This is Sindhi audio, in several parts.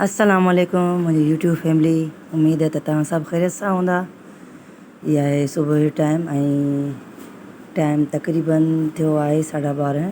السلام عليڪم منهنجي يوٽيوب فيملي اميد آهي ته توهان سڀ خيريت سان هوندا هي آهي صبح جو ٽائيم ۽ ٽائيم تقريبن ٿيو آهي ساڍا ٻارهن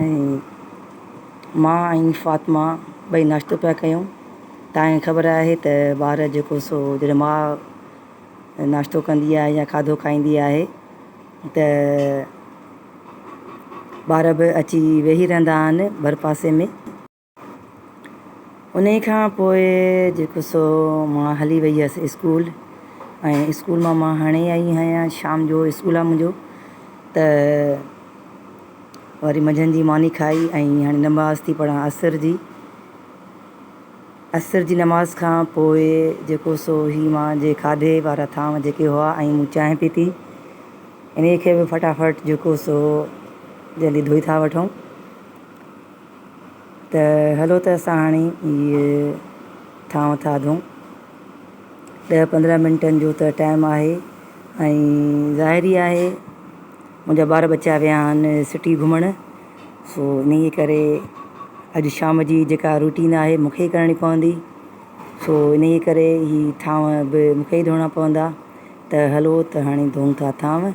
۽ مان ۽ فاطمه ٻئي ناشتو پيا ڪيون. تانء خبر آهي ته ٻار جيڪو سو جڏهن ماء ناشتو ڪندي آهي يا کاڌو کائيندي آهي ته ٻار به اچي ويهي رهندا آهن ڀرپاسي ۾. انهي کان پوء جيڪو سو مان هلي وئي هيس اسڪول ۽ اسڪول مان مان هاڻي آئي آهيان شام جو اسڪول آهي منهنجو ته وري منجهند جي ماني کائي ۽ هاڻي نماز ٿي پڙهان عصر جي عصر جي نماز کان پوء جيڪو سو هي مان جي کاڌي وارا ٿانو جيڪي هئا ۽ مون چانهه پيتي انهي کي به فٽافٽ جيڪو سو جلدي ڌوئي ٿا وٺون ته هلو ته اسان هاڻي هي ٿانء ٿاڌون. ڏهه پندرهن منٽن جو ته ٽائيم آهي ۽ ظاهر ئي آهي منهنجا ٻار ٻچا ويا آهن سٽي گهمڻ سو انهيء ڪري اڄ شام جي جيڪا روٽين آهي مون کي ئي ڪرڻي پوندي سو انهيء ڪري هي ٿانء به مون کي ئي ڌوئڻا پوندا ته هلو ته هاڻي ڌوئون ٿا ٿانء.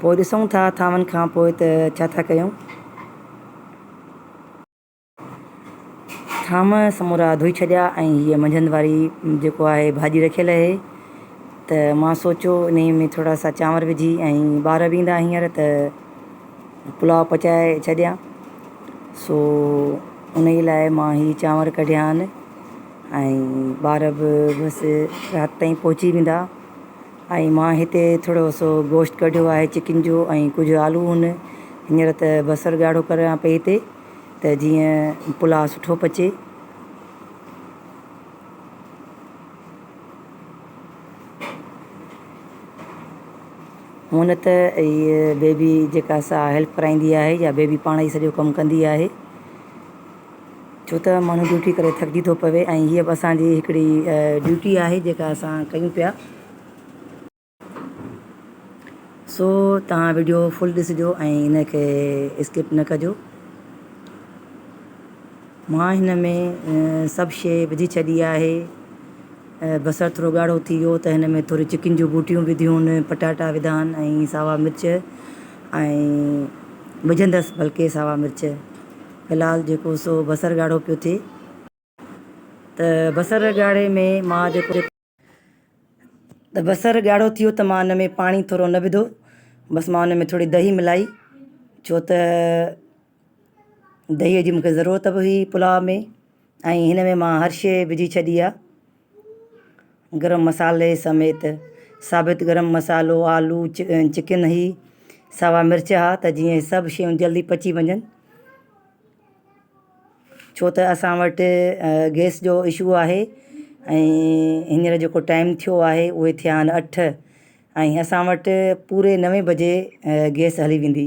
پوء ڏسون ٿا ٿانون کان پوء ته ڇا ٿا ڪيون. ٿانو سمورا ڌوئي ڇڏيا ۽ هيء منجهند واري جيڪو آهي ڀاڄي رکيل اهي ته مان سوچيو انهيء ۾ ٿورا سا چانور وجهي ۽ ٻار به ايندا هينئر ته پلاء پچائي ڇڏيان سو انهيء لاء مان هي چانور ڪڍيا آهن ۽ ٻار به بس رات تائين پهچي ويندا. ۽ مان هتي ٿورو سو گوشت ڪڍيو آهي چڪن جو ۽ ڪجهه آلو هن هينئر ته بصر ڳاڙهو ڪريان پئي هتي ته جيئن پلاء سٺو پچي. هونئن ته هي بيبي جيڪا سا هيلپ ڪرائيندي آهي يا بيبي پاڻ ئي سڄو ڪم ڪندي آهي. ڇو ته ماڻهو ڊيوٽي ڪري ٿڪجي ٿو پوي ۽ هيء به اسان جي هڪڙي ڊيوٽي آهي جيڪا اسان ڪيون پيا. سو توهان وڊيو فل ڏسجو ۽ ان کي اسڪپ نه ڪجو. مان هن ۾ سڀ شيء وجهي ڇڏي آهي. بصر ٿورو ڳاڙهو ٿي ويو ته هن ۾ ٿوري چڪين جون بوٽيون وڌيون، پٽاٽا وڌا آهن ۽ ساوا مرچ ۽ وجهندس بلڪه ساوا مرچ. هلال جيڪو سو بصر ڳاڙهو پيو ٿئي ته بصر ڳاڙهي ۾ مان جيڪو. ته بصر ڳاڙهو ٿيو ته مان ان ۾ پاڻي ٿورو نه وڌو بس مان ان ۾ ٿوري دهي ملائي ڇو ته دهيء جي مونکي ضرورت به هئي پلاء ۾ ۽ هن ۾ مان هر شيء وجهي ڇڏي آ گرم مصالحي سميت ثابت گرم مصالحو آلو چڪن هي سوا مرچ ها ته جيئن هي سڀ شيون جلدي پچي وڃن ڇو ته اسان وٽ گيس جو اشو آهي ۽ هينئر جيڪو ٽائيم ٿيو آهي اهي ٿيا آهن اٺ ۽ اسان وٽ پوري نوي بجي گيس هلي ويندي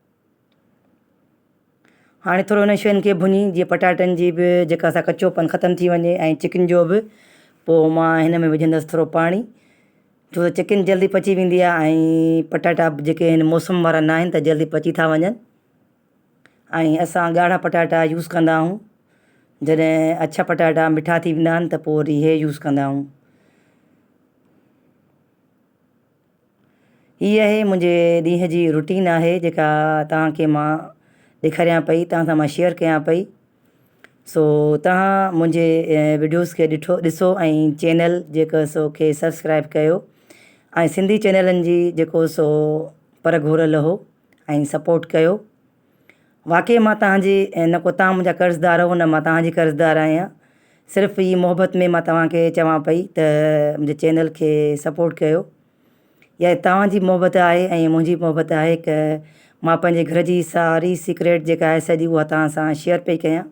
هاڻي ٿورو انهن شين کي ڀڃي جيئن پٽاٽن جي بھ جيڪا اسان کي ڪچوپن ختم ٿي وڃي ۽ چڪن جو بھ پوء مان هن ۾ وجهندس ٿورو پاڻي ڇو تھ چڪن جلدي پچي ويندي آهي ۽ پٽاٽا بھ جيڪي آهن موسم وارا ناهن تھ جلدي پچي ٿا وڃن ۽ اسان ڳاڙها پٽاٽا يوز ڪندا آهيون جڏهن اڇا پٽاٽا مٺا ٿي ويندا آهن تھ پوء وري هيء يوز ڪندا آهيون هي آهي منهنجي ڏينهن جي روٽين آهي جيڪا توهان کي مان ڏيکاريان پئي توهان سان مان شيئر ڪيان پئي سو توهان منهنجي وڊيوز کي ڏٺو ڏسو ۽ چينل جيڪو سو کي سبسڪرائب ڪيو ۽ سنڌي چينلن جي جيڪو سو پر گهور لهو ۽ سپورٽ ڪيو واقعي مان توهان جي نه ڪو توهان منهنجا قرضدار هئو نه مان توهان جي قرضدار آهيان صرف هي محبت ۾ مان توهان کي چوان پئي ته منهنجي چينل کي سپورٽ ڪيو يا توهان جي محبت آهي ۽ منهنجي محبت آهي هڪ مان پنهنجي گهر جي ساري سيڪريٽ جيڪا آهي سڄي اها توهان سان شيئر پئي ڪيان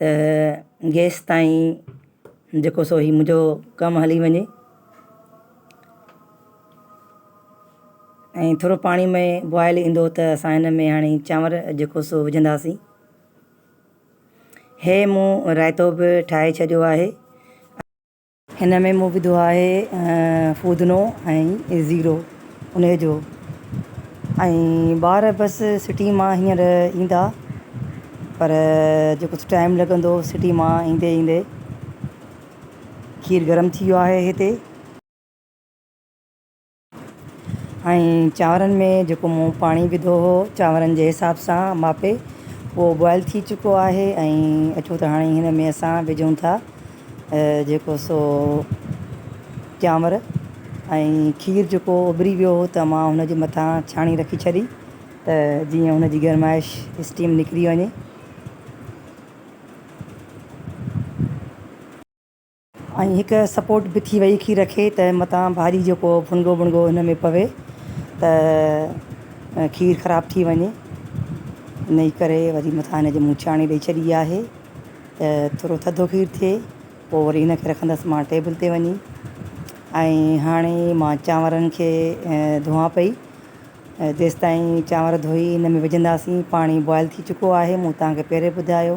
ته جيستائين جيڪو سو هي منهنجو ڪم هلي وڃي ۽ ٿورو پاڻي مئي بوائل ايندو ته اسان هن ۾ هاڻي چانور جيڪو سو وجهنداسين هي مون رائتو به ٺاهي ڇڏيو آهي هن ۾ مون وڌو آهي فودنو ۽ زيرو ان جو ۽ ٻار بس سٽي مان هينئر ايندا پر جو ڪجهه ٽائيم لڳندو سٽي مان ايندي ايندي کير گرم ٿي ويو آهي هتي ۽ چانورن ۾ جيڪو مون پاڻي وڌو هو چانورن جي حساب سان ماپي اهو بوائل ٿي چڪو آهي ۽ اچو ته هاڻي هن ۾ اسان وجهون ٿا جيڪو سو چانور ۽ کير جيڪو اڀري ويو هو ته مان هن جي مٿان ڇاڻي رکي ڇڏي ته جيئن هن جي گرمائش اسٽيم نڪري وڃي ۽ هڪ سپورٽ به ٿي وئي کير کي ته متان ڀاڄي جو ڪو ڦڻگو ٻڻگو هن ۾ پوي ته کير خراب ٿي وڃي انهي ڪري وري متان هن جي مون چاڻي ڏئي ڇڏي آهي ته ٿورو ٿڌو کير ٿئي پوء وري هن کي رکندس مان ٽيبل تي وڃي ۽ هاڻي مان چانورن کي ڌوئان پئي جيستائين چانور ڌوئي ان ۾ وجهنداسين پاڻي بوائل ٿي چڪو آهي مون توهان کي پهرين ٻڌايو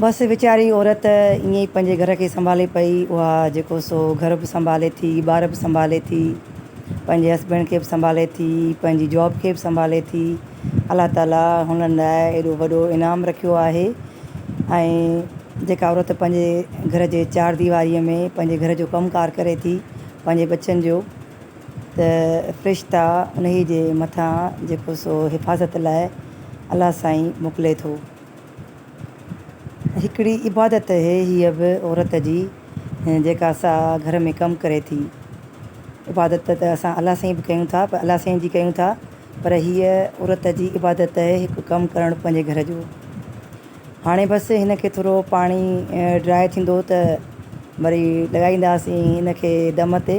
بس ويچاري عورت ائين ئي پنهنجي گهر کي سنڀالي پئي اها جيڪو سو گهر به سنڀالي ٿي ٻار به سنڀالي ٿي پنهنجي هسبينڊ کي به سنڀالي ٿي پنهنجي جاب کي به سنڀالي ٿي الله تعاليٰ هنن لاء اهڙو وڏو انعام رکيو آهي ۽ جيڪا عورت پنهنجي گهر جي چار ديواريء ۾ پنهنجي گهر جو ڪم ڪار ڪري ٿي پنهنجي ٻچن جو ته فرشتا انهيء جي مٿان جيڪو سو حفاظت لاء الله سائين موڪلي ٿو. هڪڙي عبادت اهي هيء به عورت جي جيڪا سا گهر ۾ ڪم ڪري ٿي. عبادت ته اسان الله سائين به ڪيون ٿا پر الله سائين جي ڪيون ٿا پر هيء عورت جي عبادت اهي هڪ ڪم ڪرڻ پنهنجي گهر جو. هاڻي بس هن کي ٿورو پاڻي ڊرائي ٿيندو ته وري لڳائينداسين هن کي دم تي.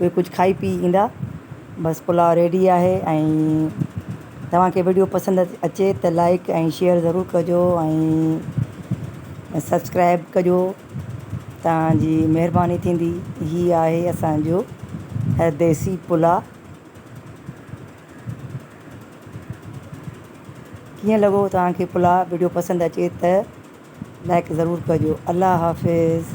اهي ڪجهه کائي پي ايندا بس پلاء ريڊي آهي ۽ توهان کي وڊيو پسند اچي ته لائڪ ۽ شيئر ضرور ڪجو ۽ سبسڪرائب ڪجو توهان جي مهرباني ٿيندي هي آهي اسانجو ديسي پلاء ڪيئن لڳو توهان کي پلاء وڊيو پسند اچي ته لائڪ ضرور ڪجو الله حافظ